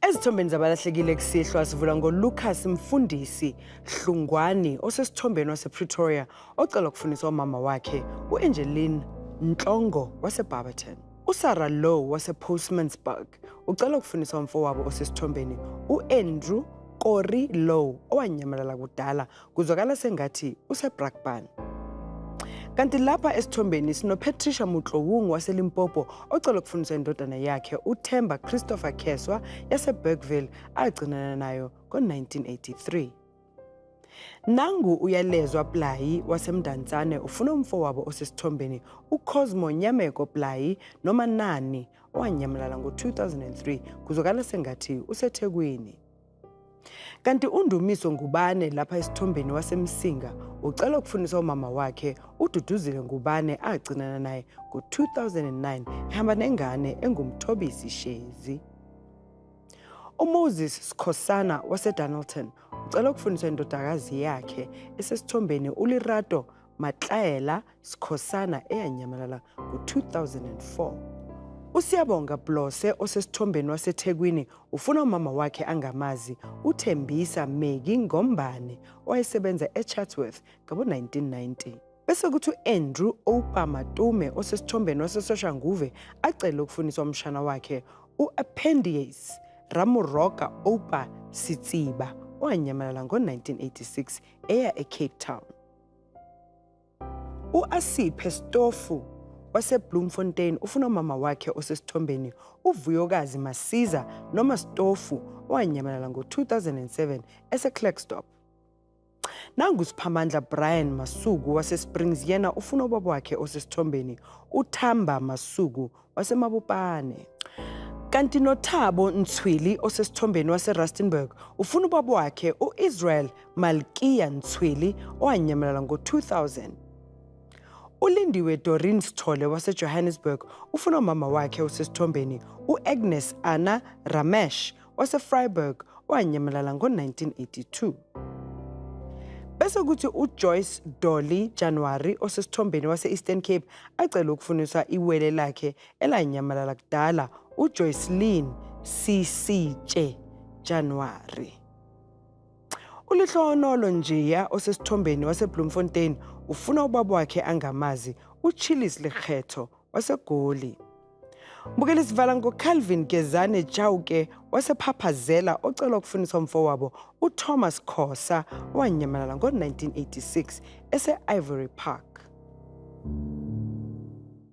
Ezithombeni zabalahlekile kusihlwa sivula ngoLucas Mfundisi Hlungwani osesithombeni wasePretoria ocela ukufundisa umama wakhe uAngeline Ntlongo waseBarberton. USarah Low wasePostmansburg ucela ukufundisa umfowabo osesithombeni uAndrew Kori Low owanyamalala kudala kuzwakala sengathi usebrakpan kanti lapha esithombeni sinopatricia mutlowung waselimpopo ocela ukufundisa indodana yakhe uthemba christopher kheswa yasebergville agcinana nayo ngo-1983 nangu uyalezwa playi wasemndansane ufuna umfo wabo osesithombeni ucosmo nyameko playi noma nani owanyamalala ngo-2003 kuzokala sengathi usethekwini Kanti uNdumiso Ngubane lapha esithombeni waseMsinga ucela ukufundisa umama wakhe uDuduzile Ngubane agcinana naye ngo-2009 ehamba nengane engumthobisi Shezi. UMoses Sikhosana waseDonaldton ucela ukufundisa indodakazi yakhe esesithombeni uLirato Matlaela Sikhosana eyanyamalala ngo-2004. USiyabonga Blose osesithombeni waseThekwini ufuna umama wakhe angamazi uThembisa Meki Ngombane owayesebenza eChatsworth ngabo-1990. Bese kuthi u-Andrew Oupa Matume osesithombeni waseSoshanguve acele ukufuniswa umshana wakhe u-Appendiace Ramuroka Oupa Sitsiba owanyamalala ngo-1986 eya eCape Town. U-Asiphe Stofu waseBloemfontein ufuna umama wakhe osesithombeni uVuyokazi Masiza noma Stofu owanyamalala ngo-2007 eseClerkstop. Nangu uSiphamandla Brian Masuku waseSprings yena ufuna ubaba wakhe osesithombeni uThamba Masuku waseMabopane. Kanti noThabo Ntswili osesithombeni waseRustenburg ufuna ubaba wakhe uIsrael Malkia Ntswili owanyamalala ngo-2000. ULindiwe Doreen Sithole waseJohannesburg ufuna umama wakhe osesithombeni uAgnes Anna Ramesh waseFreiburg owanyamalala ngo-1982. Bese kuthi uJoyce Dolly January osesithombeni wase-Eastern Cape acele ukufuniswa iwele lakhe elanyamalala kudala uJoycelyn Sisitshe January. Ulihlonolo njeya osesithombeni waseBloemfontein ufuna ubaba wakhe angamazi uChillis Lekgetho waseGoli. Bukela isivala ngoCalvin Gezane Chauke wasephaphazela ocela ukufundisa umfowabo uThomas Khosa owanyamalala ngo-1986 ese-Ivory Park.